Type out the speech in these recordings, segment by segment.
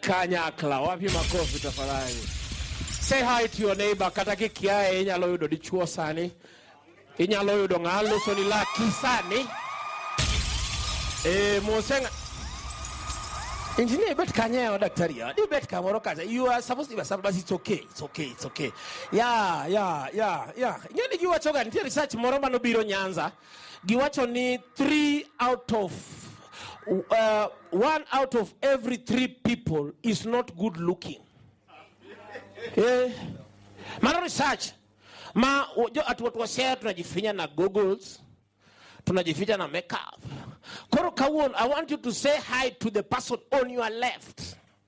Kanyakla, wapi makofi tafadhali. Say hi to your neighbor, kata kikiaye inyalo yudo dichuo sani. Inyalo yudo ng'a loso ni laki sani. Eh, mosenga Engineer bet kanye wa daktari ya. Di bet kamoro kaza. You are supposed to be but it's okay. It's okay. It's okay. Yeah, yeah, yeah, yeah. Ngeni kiwa choga niti research moro mano biro Nyanza. Giwacho ni three out of uh, one out of every three people is not good looking. Eh, mano research ma watu watu wasea tunajifinya na goggles, tunajificha na makeup. Koro kawuon, I want you to say hi to the person on your left.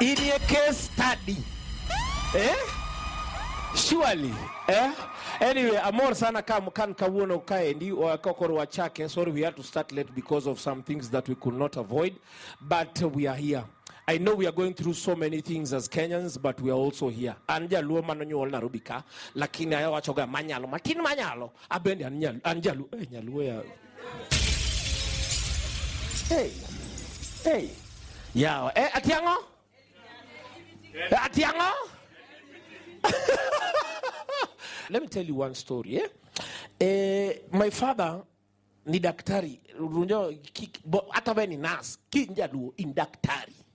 It is a case study. Eh? Surely. Eh? Anyway, amor sana kam kan kawuono kaendi kokorwa chake. Sorry we had to start late because of some things that we could not avoid, but we are here. I know we are going through so many things as Kenyans, but we are also here. An jaluo manonyuol Nairobi ka, lakini awachoga manyalo, matin manyalo. Abende an jaluo, eh, nyaluo ya Hey. Hey. Yawa. Eh, ati ang'o? Eh, Ati ang'o? Let me tell you one story. Eh? Eh, my father ni daktari. Unajua ki- bo- hata wewe ni nurse. Kinjaluo in daktari.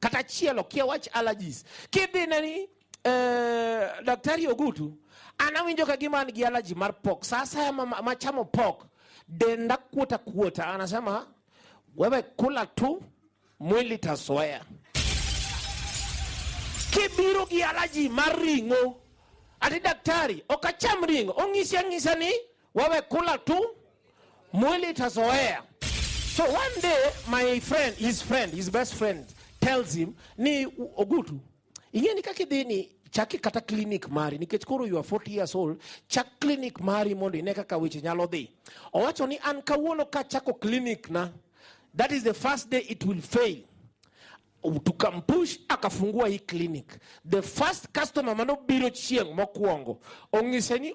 kata chielo kia wach allergies kidhi ne ni eh, daktari Ogutu anawinjo ka gima an gi allergy mar pork. Sasa machamo pork denda kuota kuota, anasema wewe kula tu, mwili tasoea. Kibiro gi allergy mar ring'o, ati daktari okacham ring'o, ong'isi ang'isa ni Wewe kula tu, mwili itazoea. So one day my friend, his friend, his best friend tells him ni Ogutu ing'e ni kaka idhi ni chaki kata clinic mari nikech koro you are 40 years old chak clinic mari mondo ine kaka weche nyalo dhi owacho ni an kawuono ka chako clinic na that is the first day it will fail tukampush akafungua hii clinic the first customer manobiro chieng' mokwongo ong'ise ni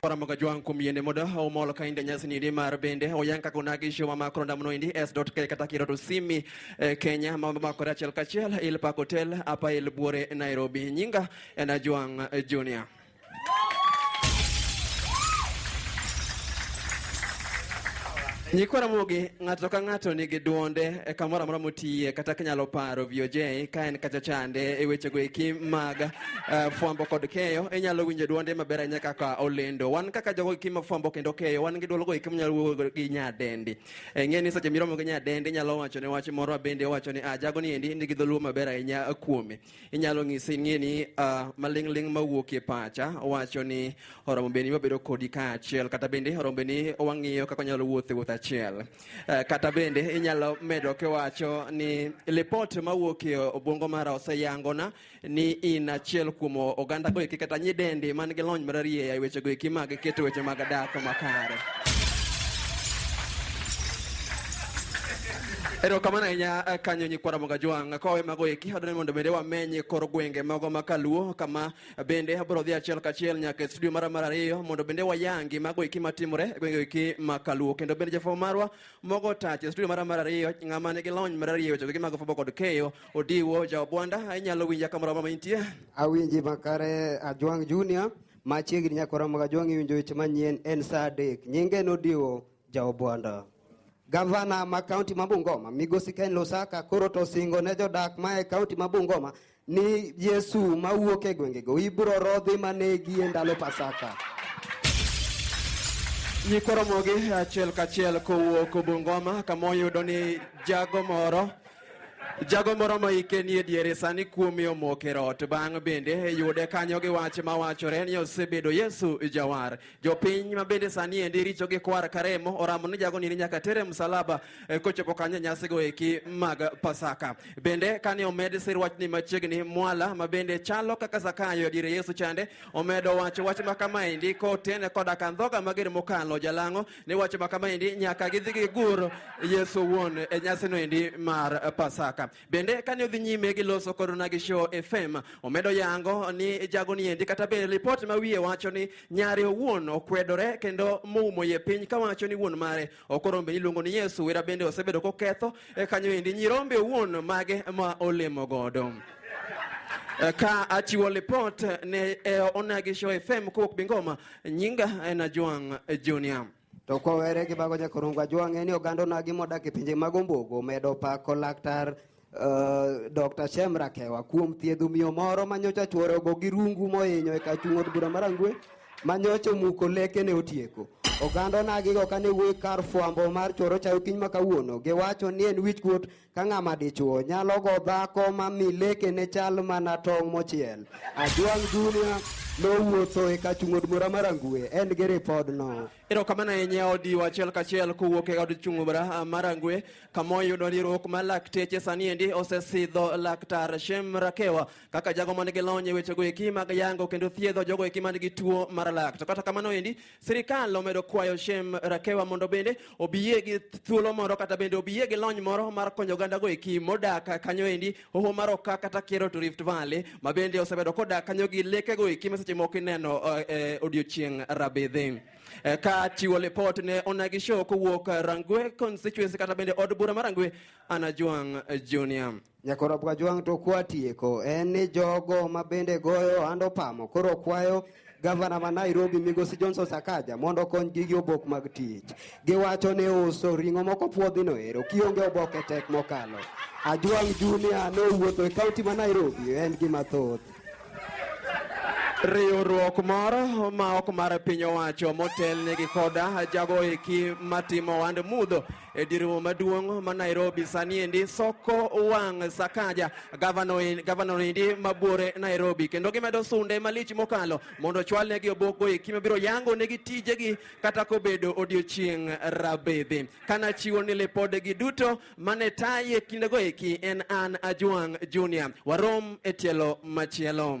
Paramoga jwang kuom yiende moda omolo ka inde nyasi nidi mar bende oyanka kuna gisho ma makro ndamno indi s.k kata kiro to simi eh, Kenya ma makore achiel kachiel il pak hotel apa il buore Nairobi nyinga en ajwang eh, junior Nyikwa Ramogi ng'ato ka ng'ato nigi duonde e kamoro amora motiye kata kinyalo paro VOJ ka en kacha chande e wechego eki mag Uh, fwambo kod keyo inyalo winjo dwonde maber ahinya kaka olendo wan kaka jogo eki ma fwambo kendo keyo wan gi dwolgo eki manyalo wuoyo gi nyadendi e, ng'e ni seche miromo gi nyadendi inyalo wacho ne wach moro bende wacho ni ah, jago ni endi nigi dholuo maber ahinya kuome inyalo ng'ise ng'e ni uh, maling'ling' mawuok e pacha wacho ni oromo bende ni wabedo kodi kaachiel kata bende oromo bende ni wang'iyo kaka wanyalo wuotho e wuoth achiel uh, kata bende inyalo medo kiwacho ni lipot mawuok e obwongo mara oseyangona ni in achiel kuom oganda goeki kata nyidendi man gi lony mararieya e weche goeki mag keto weche mag dak makare erokamano ahinya eh, kanyo nyikwa ramoga jwang' kowe mago eki adwani mondo bende wamenye kor gwenge mago ma kaluo kama bende abiro dhi achiel kachiel nyaka e studio mara mar ariyo mondo bende wayangi mago eki matimore e gwenge eki ma kaluo kendo bende jafwambo marwa mogo tach e studio mara mar ariyo ng'ama nigi lony mar ariyo e weche goeki mag fwambo kod keyo Odiwo Jaobwanda, inyalo winja kamoro amora ma intie? Awinji makare Ajwang' Junior, machiegni nyakora mag Ajwang' iwinjo weche manyien en saa adek. Nyinge en Odiwo Jaobwanda. Gavana ma kaunti ma Bungoma, Migosi Ken Lusaka koro to osingo ne jodak ma e kaunti ma Bungoma ni Yesu mawuok e gwengego ibiro rodhi manegi e ndalo Pasaka. Nyikoromogi achiel kachiel kowuok Bungoma kama oyudo ni jago moro Jago moro moike ni e diere sani kuome omoko e rot. Bang' bende yude kanyo gi wach ma wachore ni osebedo Yesu jawar. Jopiny ma bende sani endi richo gi kwar karemo oramo ni jago nini nyaka tere msalaba e, kochopo kanyo nyasi go eki mag Pasaka. Bende kane omed sir wach ni machiegni mwala ma bende chalo kaka Zakayo e diere Yesu chande omedo wacho wach ma kama endi kotene koda kandhoga mager mokalo jalang'o ni wacho ma kama endi nyaka gidhi gigur Yesu wuon e nyasino endi mar Pasaka. Bende kane odhi nyime gi loso kodona gi show FM, omedo yango ni jagoni endi kata bende ripot ma wiye wacho ni nyare owuon okwedore kendo moumo ye piny kawacho ni wuon mare okorombe iluongo ni Yesu wera bende osebedo koketho e kanyo endi nyirombe owuon mage ma olemo godo. Eh, ka achiwo lipot ne eh, Onagi Show FM kowuok Bingoma Nyinga en Ajwang' Junior. To kowere gi mago nyakorungu Ajwang' en oganda onagi modak e pinje mag Ombogo medo pako laktar Uh, Dr. Shem Rakewa kuom thiedho miyo moro manyocha chuore ogo gi rungu mohinyo e kachung' od bura mar Angwe manyocha omuko leke ne otieko. Oganda onagigo kane wuoyi kar fwambo mar choro chayo kiny ma kawuono giwacho ni en wichkuot ka ng'ama dichuo nyalo go dhako ma mi lekene chal mana tong' mochiel. Ajwang' Junior nowuotho e kachung'od mura mar Angue en gi ripodno. Erokamano ahinya odiwo achiel kachiel kowuok e od chung' bura mar Angue kama oyudo riwruok mar lakteche sani endi osesidho laktar Shem Rakewa kaka jago man gi lony e wechego eki mag yango kendo thiedho jogo eki man gi tuo mar lak. To kata kamano endi Sirikal omedo kwayo Shem Rakewa mondo bende obiye gi thuolo moro kata bende obiye gi lony moro mar konyo oganda go eki modak kanyo endi hoho mar Oka kata Kero to Rift Valley ma bende osebedo kodak kanyo gi leke go eki ma seche moko ineno eh, eh, odiochieng' rabidhi. Eh, ka chiwo lipot ne Onagi Show kowuok Rangwe constituency kata bende od bura mar Rangwe Anajwang' Junior. Nyakoro Bwajwang' to kwatieko en ni jogo ma bende goyo ohand opamo koro kwayo gavana ma Nairobi Migosi Johnson Sakaja mondo okonygi gi obok mag tich. Giwacho ni uso ring'o moko puodhino ero kionge oboke tek mokalo. Ajwang' Junior nowuotho e kaunti ma Nairobi en gi mathoth. Riwruok moro ma ok mar piny owacho motelnegi koda jago eki matimo ohand mudho e dir romo maduong' ma Nairobi sani endi soko wang' Sakaja gavana endi mabuore Nairobi kendo gimedo sunde malich mokalo mondo chwal negi obokgo eki mabiro yango negi tijegi kata kobedo odiochieng' rabedhi kana chiwo ni lipodegi duto mane taye kindego eki en an Ajwang' Junior warom e tielo machielo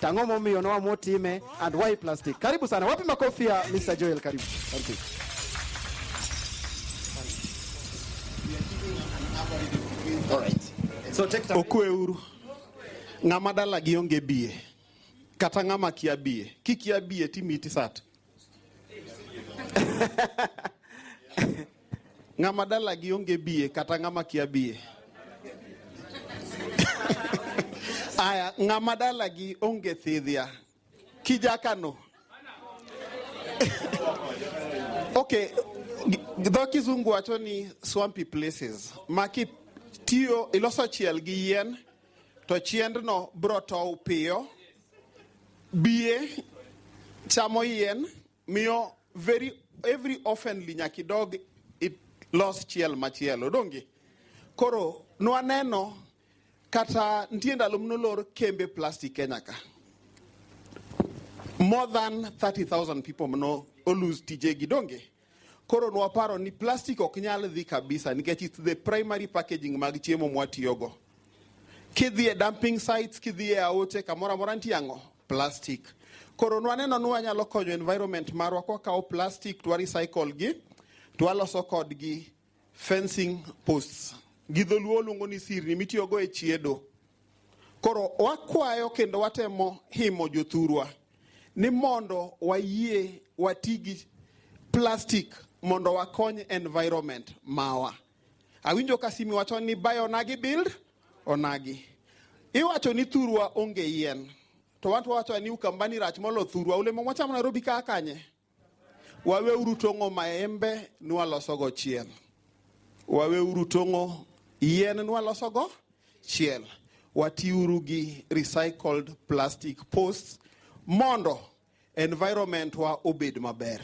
Tang'o momiyo no amo time and why plastic. Karibu sana. Wapi makofi ya Mr. Joel karibu. Thank you. All right. So take time. Okwe uru. Ng'ama dala gi onge bie. Kata ng'ama kia bie. Kikia bie timiti sat. ng'ama dalagi onge biye kata ng'ama kia biye aya ng'ama dalagi onge thidhia kijakano okay dho kizungu wacho ni swampy places ma kitiyo iloso chiel gi yien to chiendno bro tow piyo Biye chamo yien miyo very every oftenly nyaka idog ilos chiel machielo donge koro nwaneno kata nitie ndalo mnolor kembe plastic kenya ka more than 30000 people mno olose tijegi donge Koro nwaparo ni plastic ok nyal dhi kabisa nikech it's the primary packaging mag chiemo mwatiyogo. Kidhi e dumping sites, kidhi e aoche, kamoro amora nitie ang'o? Plastic. Koro nwaneno ni wanyalo konyo environment marwa kwa kawo plastic twa recycle gi, twaloso kodgi Fencing posts gi dholuo luongo ni sirni mitiyogo e chiedo. Koro wakwayo kendo watemo himo jothurwa ni mondo wayie wati gi plastic mondo wakony environment mawa. Awinjo ka simi wacho ni buy onagi build onagi. Iwacho ni thurwa onge yien to wan to wawacho ni ukambani rach molo thurwa olemo mwachamo Nairobi kaa kanye? Waweuru tong'o maembe nwalosogo chiel. Waweuru tong'o yien nwalosogo chiel. Watiuru gi recycled plastic posts mondo environment wa obed maber.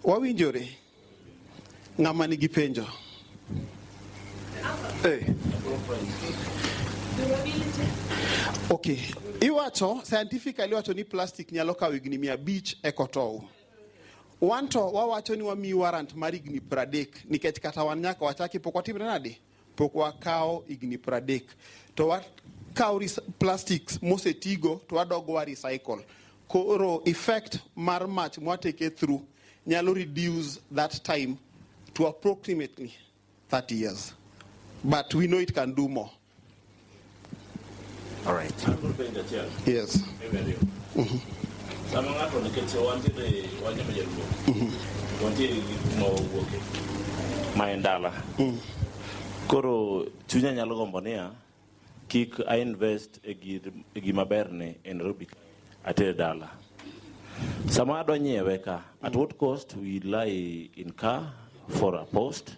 Wawinjore Ng'ama nigi penjo? Hey. Eh. Okay. Iwacho scientifically iwacho ni plastic nyalo kawo higni mia abich e kotow. Wanto wawacho ni wamiyi warrant mar higni 30 nikech kata wan nyaka wachaki pok watimre nade? pok wakawo higni pradek to wakawo plastics mosetigo to wadog wa recycle koro effect mar mach mwateke through nyalo reduce that time to approximately 30 years but we know it can do more All right. Yes. Mm-hmm. Sama ng'ato nikech wantiere wanyama jaluo. Mm-hmm. Wantiere gik ma owuoke. Ma en dala. Mm. Koro chunya nyalo gombo niya kik a invest e gima berne e Nairobi atere dala. Sama adwa nyiewe ka, at what cost will I incur for a post?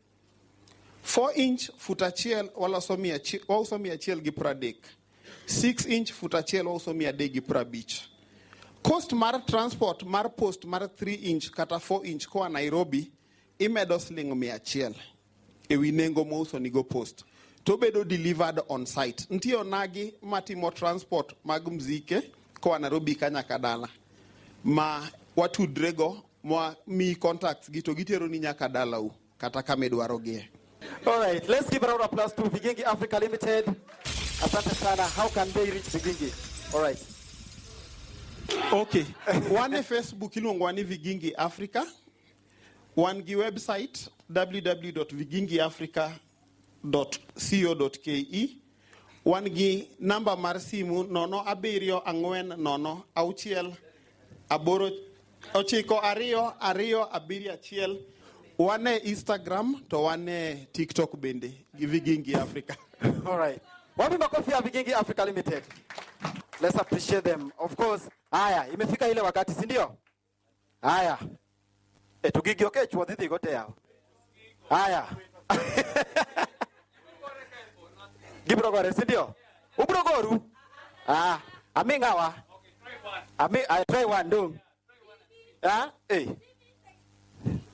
4 inch fut achiel waloso mia achiel, wauso mia achiel gi pradek 6 inch fut achiel wauso mia adek gi prabich cost mar transport mar post mar 3 inch kata 4 inch koa nairobi imedo siling mia achiel ewi nengo mouso nigo post to bedo delivered on site nitie onagi matimo transport mag mzike koa nairobi ka nyaka dala ma watudrego mwa mi contacts gi to gitero ni nyaka dalau kata kama idwarogie. All right, let's give a round of applause to Vigingi Africa Limited. Asante sana. How can they reach Vigingi? All right. Okay. Wan e Facebook iluongo ni Vigingi Africa. Wan gi website www.vigingiafrica.com www.ccc.co.ke wan gi namba mar simu nono abiriyo ang'wen nono auchiel aboro ochiko ariyo ariyo abiriyo achiel wan e instagram to wan e tiktok bende gi vigingi africa All right. Wapi makofi ya Vigingi Africa Limited? Let's appreciate them. Of course. Haya, imefika ile wakati, si ndio? Haya. E to gigi oke chwo dhidhi gote yawo. Haya. Gibro gore, si ndio? Ubro goru? Ah, ami ngawa. Ami I try one do. Ah, eh.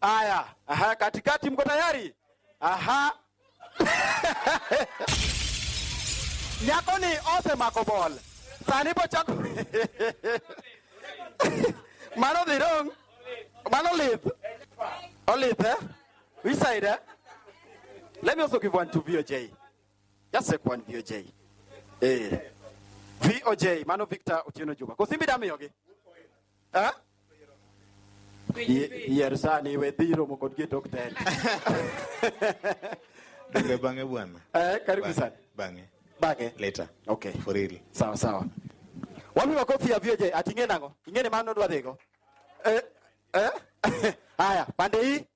Aya, aha, katikati mko tayari? Aha. Nyako ni ose mako bol. Sani bo chako. Mano dhi dong. Mano lith. Olith eh? Which side eh? Let me also give one to VOJ. Just take one VOJ. Eh. VOJ, mano Victor Otieno Juba. Kosimbi damiyogi. Ha? Yi- Yier sani we dhi romo kod gi e tok tel. Donge bang'e bwana? Eh, karibu Bang'e, sana. Bang'e. Bang'e. Later. Okay. For real. Sawa sawa. Wami makofi ya vieje ating'e nango. Ing'e ni mano dwa dhigo. Eh, eh. Haya, pande hii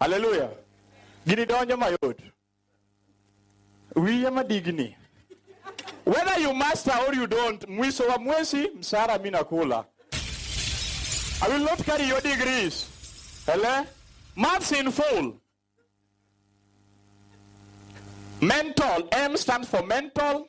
Haleluya. Gini donjo mayot. Wiye madigni. Whether you master or you don't, mwiso wa mwezi msara mimi nakula. I will not carry your degrees. Hello? Maths in full. Mental. M stands for mental.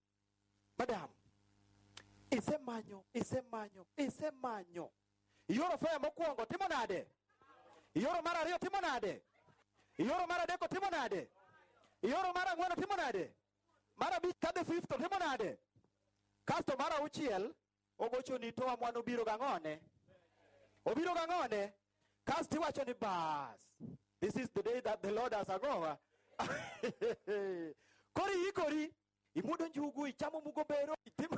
madam isemanyo isemanyo isemanyo ioro faya mokwongo timo nade ioro mar ariyo timo nade ioro mar adeko timo nade ioro mar ang'wen timo nade mar abich kadhi fifth timo nade kasto mar auchiel ogocho ni to amwan obiro gang'one obiro gang'one kasto iwacho ni bas this is the day that the lord has agowa kori ikori Imuodo njugu, ichamo mugo bero, itimo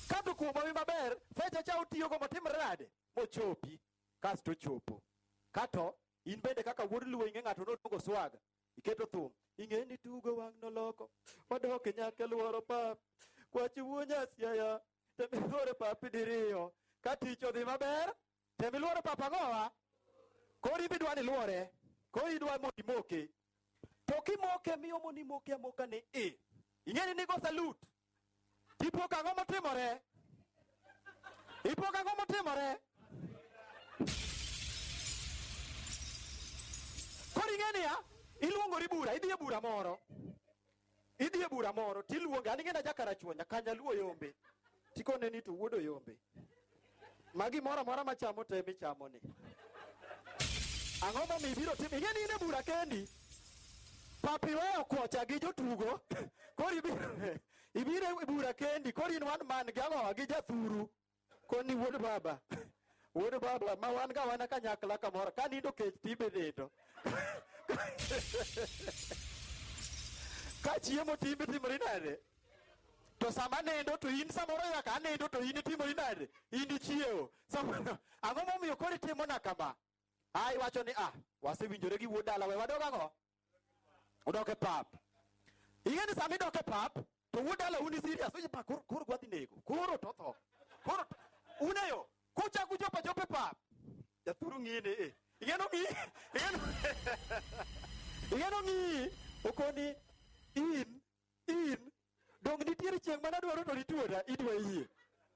Kato kuom omi maber, fecha cha utiyogo motimre nade? Mochopi, kasto ochopo. Kato, in bende kaka wuod luo ing'e ng'ato nodongo swaga, iketo thum. Ing'e ni tugo wang' noloko, wadok e nyaka lworo pap, kwachi wuo nyasiaya, temihore papi diriyo, ka tich odhi maber, Tem iluoro papa ang'owa. Koro in bidwa ni luore. Koro idwa mondo imoke. To kimoke miyo mondo imoke amoka ni i. Ing'eni nigo salute. Ipo kang'o motimore? Ipo kang'o motimore? Koro ing'eni ya? Iluongori bura, idhi e bura moro. Idhi e bura moro tiluonge, an ing'ena ja Karachuonyo, Nyakanyaluo yombe. Tikone ni to wuodo yombe. Ma gimoro amora machamo to emi chamo ni. Ang'o ma mibiro timo? Ing'e ni in e bura kendi. Papi weyo kocha gi jotugo. Koro ibiro ibiro e bura kendi. Koro in one man gi ang'o gi jathuru. Koni wuod baba. Wuod baba ma wan ga wana kanyakla kamoro ka nindo kech tibe nindo. ka chiemo timbe timori nade? To sama nindo to in samoro nyaka anindo to in itimori nade? In ichiewo. Samoro ang'o momiyo koro itimona kama? Ai wacho ni ah wasewinjore gi wuod dala we wadog ang'o? Udoke pap. Ing'e ni sama idoke pap to wuod dala un serious ni pa koro koro gwadhi nego. Koro to tho. Koro to- uneyo kucha kucha pa jope pap. Jaturu ng'ine eh. Ing'e no ng'i. Ing'e no. Ing'e no ng'i. Okoni in in dong nitiere chieng' mana dwaro to nituora idwa yie.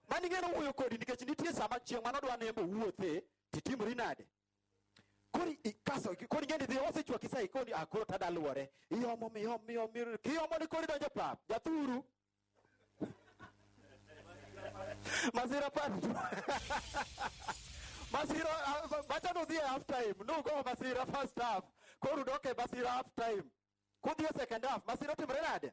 Mani ng'e no wuoyo kodi nikech nitie sama chieng' mana dwa nembo wuothe titimori nade. kori ikaso kori ngeni dhi osechwa kisai koni ah koro tada luore iyomo miyom miyom miyom kiyomo ni kori donjo pap jathuru masira pap masira ah, bacha no dhi e half time no go masira first half koro udoke masira half time kudhi e second half masira timre nade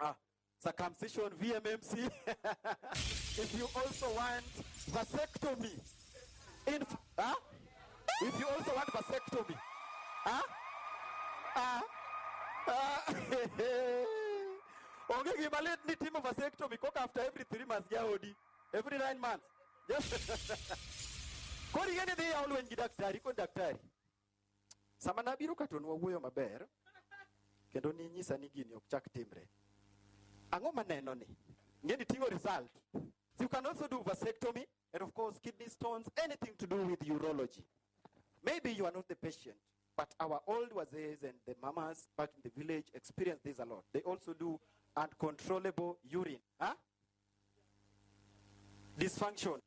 Ah, circumcision, VMMC. if you also want vasectomy, in, huh? if you also want vasectomy, huh? Ah, ah, onge gima lit ni timo vasectomy koka after every three months jaodi every nine months kori ing'e ni dhi yaw lweny gi daktari ikoni daktari sama nabiro ka to nwawuoyo maber kendo ninyisa ni gini ok chak timre ang'o maneno ni ngeni ting'o result so you can also do vasectomy and of course kidney stones anything to do with urology maybe you are not the patient but our old wazees and the mamas back in the village experience this a lot they also do uncontrollable urine huh? dysfunction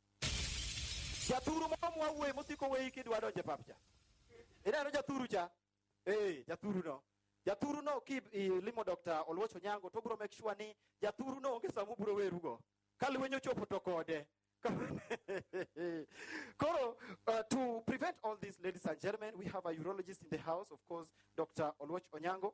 jathuru moro mwawuoye mosiko weyi kidwa donje pap cha ineno jathuru cha ee jathuru no jathuru no ki limo dr oluoch onyango to obiro make sure ni jathuru no onge sama obiro werugo ka lweny ochopo to kode Koro, uh, to prevent all this, ladies and gentlemen, we have a urologist in the house, of course, Dr. Oluoch Onyango.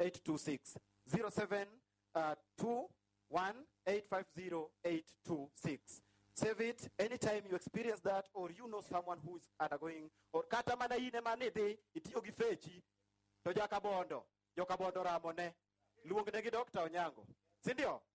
0721850826 0721850826 save it anytime you experience that or you know someone who is undergoing or kata mana in ema nidhi itiyo gi fechi to jakabondo jokabondo ramone luongnegi Dr. Onyango si ndio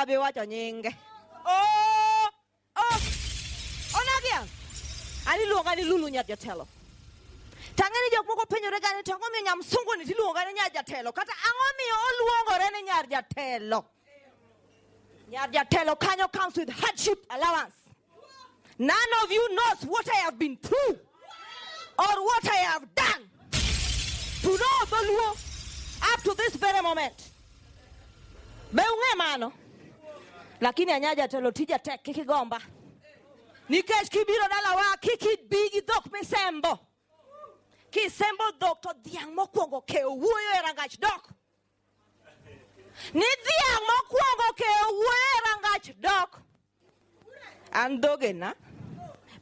kabiwacho nyinge oh, oh. onagia ani luonga ni lulu nyar jatelo tang'e ni jok moko penjore gani to ang'o miyo nyamsunguni tiluonga ni nyar jatelo kata ang'o miyo oluongore ni nyar jatelo Nyarjatelo Kanyo comes with hardship allowance. None of you knows what I have been through or what I have done to know Dholuo up to this very moment. Be ung'e mano? Lakini anya jatelo tija tek kik igomba. Nikech kibiro dalawa kik ibi gi dhok misembo. Kisembo dhok to dhiang' mokwongo kewo wuoyo e rangach dok. ni dhiang' mokwongo keyo wuoyo e rangach dok an dhogena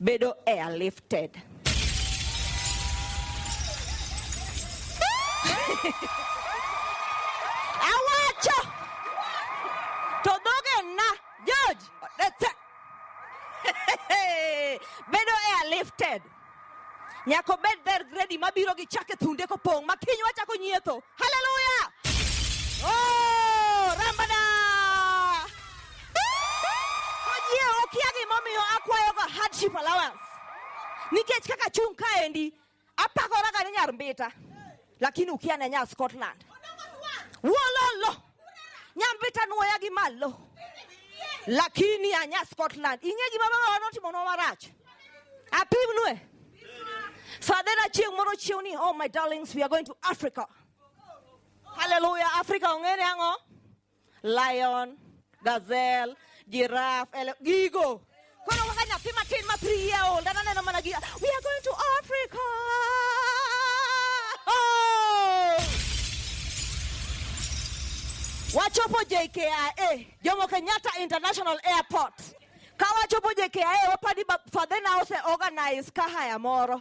bedo airlifted awacho to dhogena George odetse bedo airlifted Nyaka obed dher gredi mabiro gi chak e thunde kopong' ma kiny wachako nyietho. Haleluya! Oh, rambana! Ojie okia gimomiyo akwayoga hardship allowance. Nikech kaka chung' kaendi, apakoraga ni nyar mbita, lakini ukia ne nyar Scotland. Wololo! Nyambita nuoya gi malo. Lakini anya Scotland. Ing'e gima mama notimo nwa marach. Apimnue. Fadhena chieng' moro chiew ni, oh my darlings, we are going to Africa. Hallelujah. Africa ong'e ni ang'o? Lion, gazelle, giraffe, ele- gigo. Koro kaka nyathi matin ma three year old an aneno mana gi we are going to Africa. Oh! Wachopo JKIA, Jomo Kenyatta International Airport. Ka wachopo JKIA wapadi ba- fadhena ose organize kahaya moro.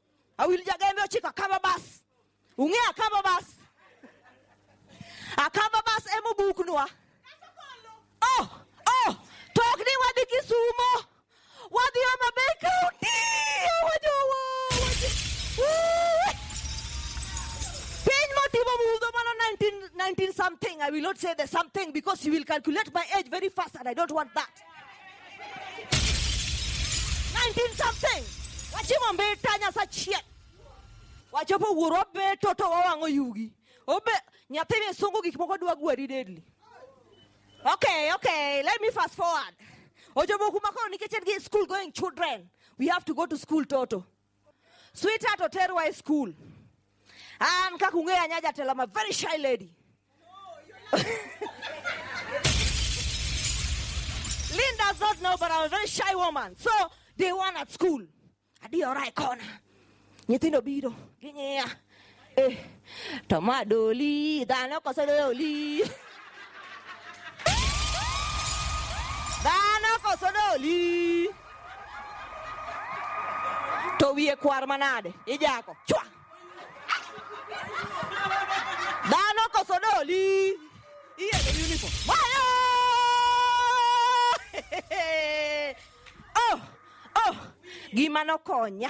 awilja gembe ochiko akaba bas ung'e akaba bas akaba bas ema obuknwa oh oh to ok ni wadhi kisumo wadhi homa bay county wajowo piny motimo mudho mano 19, 19 something i will not say the something because you will calculate my age very fast and i don't want that 19 something wachimo mbita nyasachiel wachopo wuoro wabeto to wawang'o yugi obe nyathi misungu gik moko dwa gwari deadly okay okay let me fast forward ochopo kuma koro nikech en gi school going children we have to go to school toto Sweetheart oterwa e school. An kaka ung'eyo anya jatelo, I'm a very shy lady. Linda's not know, but I'm a very shy woman. So day one at school, adiyora e kona. Nyithindo biro, ging'iya. Eh, toma doli, da no cosa doli. Da no cosa doli. To wie kwar manade, ijako. Chwa. Da no cosa doli. Iye the uniform. Mayo! Oh, oh, gima nokonya.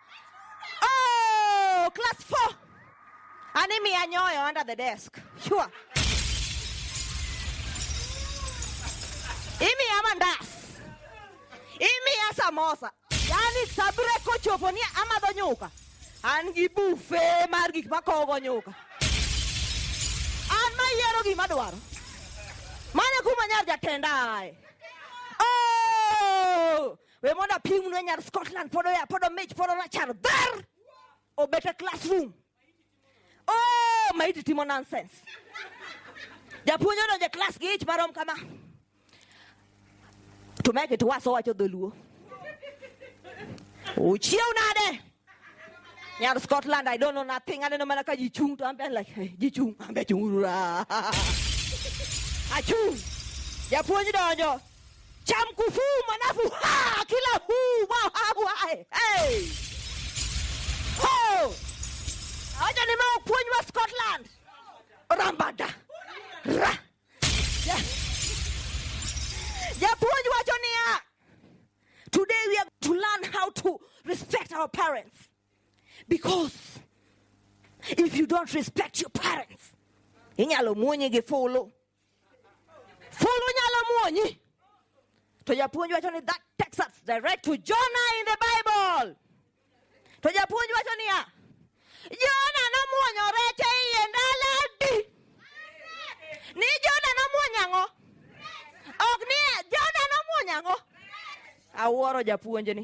Oh, class four. Anemia nyoyo under the desk. Sure. Imi ya mandas. Imi ya samosa. Yani sabure kochopo ni ama do nyuka. An gi bufe mar gik makogo nyuka. An ma yiero gima dwaro. Mane kuma nyar jatenda aye. We mondo apim nwe nyar Scotland pod oya pod omich pod orachar dher obet e classroom. Oh, maiti timo nonsense. Japuonj odonjo e class gi ich marom kama. To make it worse owacho dholuo. Uchiew nade? Nyar Scotland, I don't know nothing. Aneno mana ka ji chung to ambe like, hey, ji chung, ambe chung urura. Achung. Japuonj donjo. Cham kufu manafu ha kila hu wa ha wa. Hey. Ho. Aja ni mau puonj wa Scotland. Rambada. Ra. Yeah. Japuonj wacho niya, Today we are to learn how to respect our parents. Because if you don't respect your parents, inyalo muonye gi fulu. Fulu nyalo muonyi. To japuonj wacho ni that takes us direct to Jonah in the Bible. To japuonj wacho niya, Jona nomuonyo rech e iye ndalo adi? Ni Jona nomuonyo ang'o? Ok ni Jona nomuonyo ang'o? Awuoro japuonjni.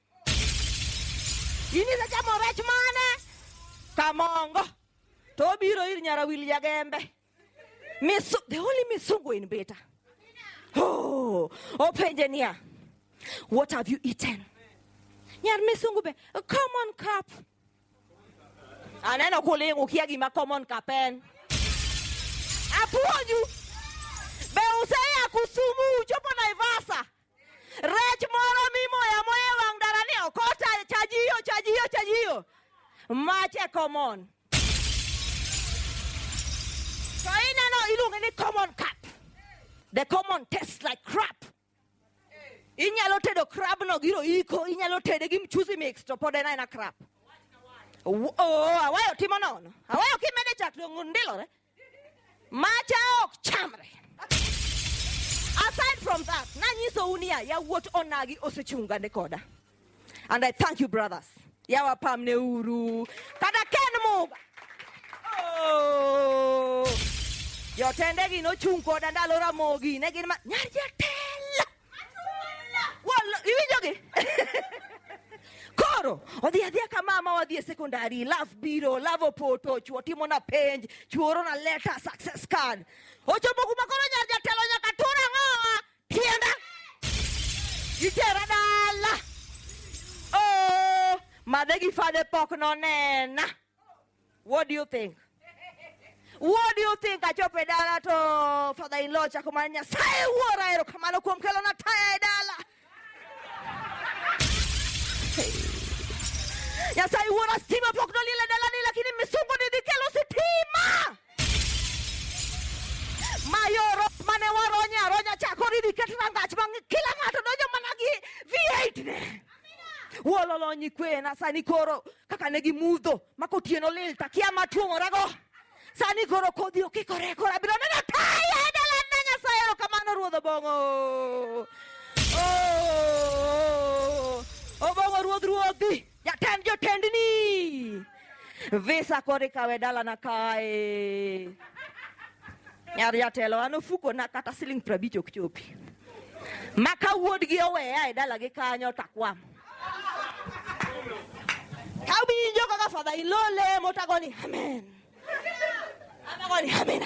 In isechamo rech mane? Kamongo. To obiro ir nyara wil jagembe. Misu, the only misungu in beta. Oh, openje niya. What have you eaten? Nyar misungu be, a common cup. Aneno kuling ukia gima common cup en. Apuonju. Be useya kusumu uchopo Naivasa. Rech moro mimoyo amoya e wang' dala ni ok ochajiyo chajiyo chajiyo mach e common to ineno iluonge ni common cup the common taste like crap inyalo tedo crab no giro iko inyalo tede gi mchuzi mix to pod en aena crab oh, awayo timo nono awayo kimede chak dong' ndilore Macha ok chamre. Aside from that, nanyiso unia ya wuot onagi osechunga ne koda. And I thank you brothers. Yawa pam ne uru. Kada ken muga. Oh. Jotendegi nochung' koda ndalo Ramogi ne gin ma nyar jatelo Koro odhi adhiya ka mama wadhi e sekondari, love biro, love opoto, chuo timo na penj, chuo oro na leta success card. Ochopo kuma koro nyar jatelo nyaka tur ang'owa tienda. Itera dala. Oh, madhe gi fadhe pok nonena. What do you think? What do you think? Achope dala to father in law cha kumanya sai uora ero kamano kuom kelo na taya e dala. Ya sai uora stima pok no lile dala ni lakini misungu ni dikelo sitima. Mayoro mane waronya ronya chakori diketrangach bang kila ngato donjo mana gi V8 ne. wololo nyikwena sani koro kaka ne gimudho mako otieno lil takia matuomorago sani koro kodhi okikore koro abiro neno taya e dalana nyasaye erokamano ruodh obong'o oh, obong'o ruodh ruodhi jatend jotendni Visa kori kawe dala na kae. Nyar jatelo an ofuko na kata siling prabich ok chopi. Ma ka wuodgi oweya e dalagi kanyo takwam. Ka winjo kaka father in law lemo tagoni amen. Amagoni amena.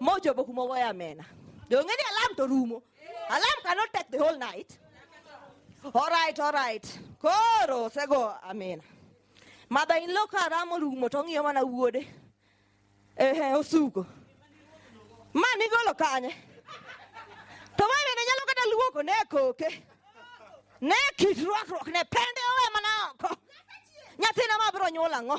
mochopo kuma ogoyo amena donge ni alam to rumo alam cannot take the whole night all right all right koro osego amena mother in law ka ramo rumo to ong'iyo mana wuode ehe osuko ma nigolo kanye to ma bende nyalo kata luoko ne koke ne kit rwakruok ne pende owe mana oko nyathina ma biro nyuol ang'o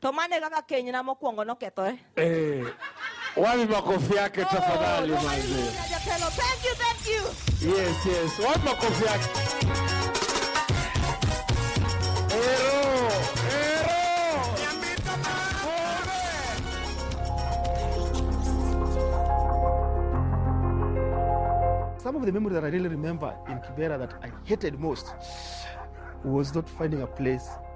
To mano e kaka kenyna mokwongo nokethore. Eh, wapi makofi yake tafadhali Oh, manze. Maria Jatelo, thank you, thank you. Yes, yes. Wapi makofi yake? Ero, ero. Some of the memories that I really remember in Kibera that I hated most was not finding a place